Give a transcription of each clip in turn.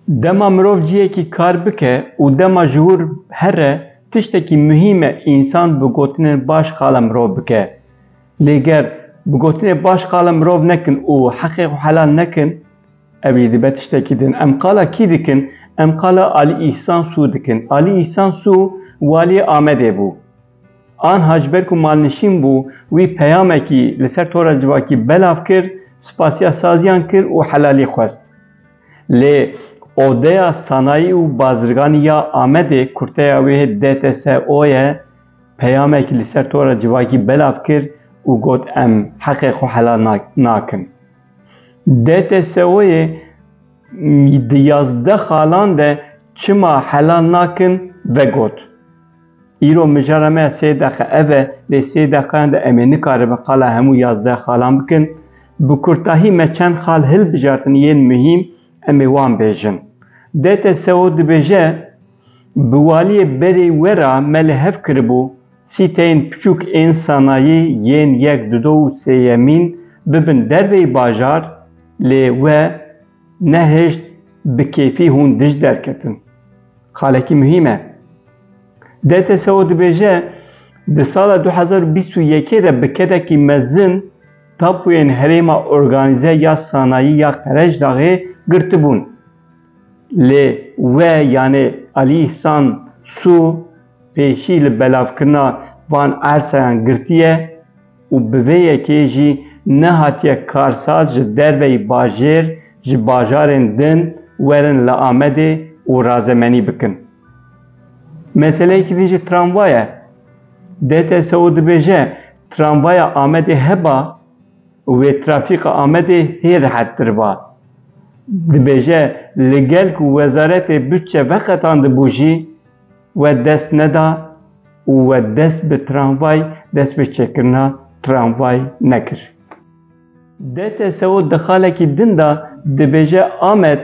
Dema mirov ciyekî kar bike û dema ji wir here tiştekî muhîm e însan bi gotinên baş qala mirov bike. Lê ger bi gotinê baş qala mirov nekin û heqê xwe helal nekin ew jî dibe tiştekî din. Em qala kî dikin? Em qala Alî Îhsan Sû dikin. Alî Îhsan Sû waliyê Amedê bû. Anha ji ber ku malnişîn bû, wî peyamekî li ser tora civakî belav kir, spasiya saziyan kir û helalî xwest. Lê Odeya Sanayî û Bazirganî ya Amedê, kurteya wê DTSO ye, peyamekî li ser tora civakî belav kir û got em heqê xwe helal nakin. DTSO'yê di yazdeh xalan de çima helal nakin vegot. Îro mijara me sê deqe ev e, lê sê deqeyan de em ê nikaribin qala hemû yazdeh xalan bikin. Bi kurtahî me çend xal hilbijartin yên muhîm em ê wan bêjin. DTSO dibêje, Bi waliyê berê we re me li hev kiribû sîteyên piçûk ên sanayî yên yek, du, du û sêyemîn bibin derveyî bajar lê we, Nehêşt bi kêfî hûn dij derketin. Xalekî muhîm e. DTSO dibêje, di sala du hezar û bîst û yekê de bi kedekî mezin tapoyên herêma organîze ya sanayî ya Qerejdaxê girtibûn. Lê we yanê Alî Îhsan Sû pêşî li belavkirina van ersayan girtiye. û bi vê yekê jî nehatiye karsaz ji derveyî bajêr ji bajarên din werin li Amedê û razemenî bikin. Meseleyekî din jî tramvay e. DTSO dibêje, tramvaya Amedê heba û wê trafîka Amedê hê rehettir ba. Dibêje, li gel ku Wezaretê Bütçe veqetandibû jî, We dest neda û we dest bi tramvay dest bi çêkirina tramvay nekir. DTSO di xalekî din de dibêje Amed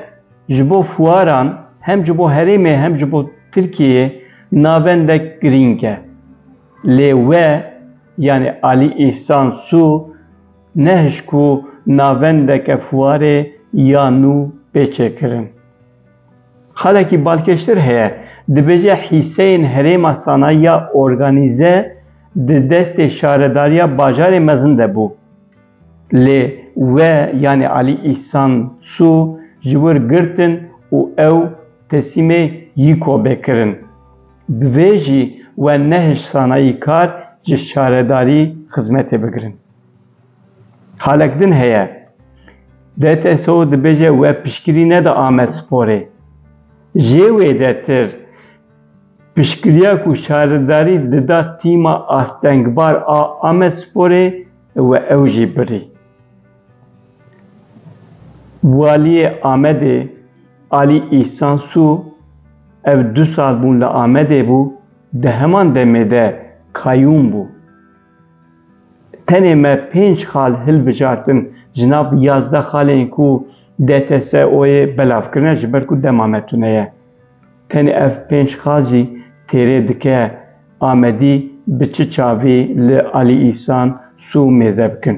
ji bo fuaran hem ji bo herêmê hem ji bo Tirkiyeyê navendek girîng e. Lê we yanî Alî Îhsan Sû nehişt ku navendeke fuarê ya nû bê çêkirin. Xalekî balkêştir heye, dibêje hîseyên herêma sanayiya organîze di destê şaredariya bajarê mezin de bû. Lê we yanî Alî Îhsan Sû ji wir girtin û ew teslîmê YKOB'ê kirin. Bi vê jî we nehişt sanayîkar ji şaredarî xizmetê bigirin. Halek din heye. DTSO dibêje we piştgirî neda Amedsporê. Jê wê de tir piştgiriya ku şaridarî dida tîma astengbar a Amedsporê we ew jî birî. Waliyê Amedê Alî Îhsan Sû ev du sal bûn li Amedê bû, di heman demê de kayûm bû. Tenê me pênc xal hilbijartin ji nav yazdeh xalên ku DTSO'yê belav kirine ji ber ku dema me tune ye. Tenê ev pênc xal jî têrê dike Amedî bi çi çavî li Alî Îhsan sû mêze bikin.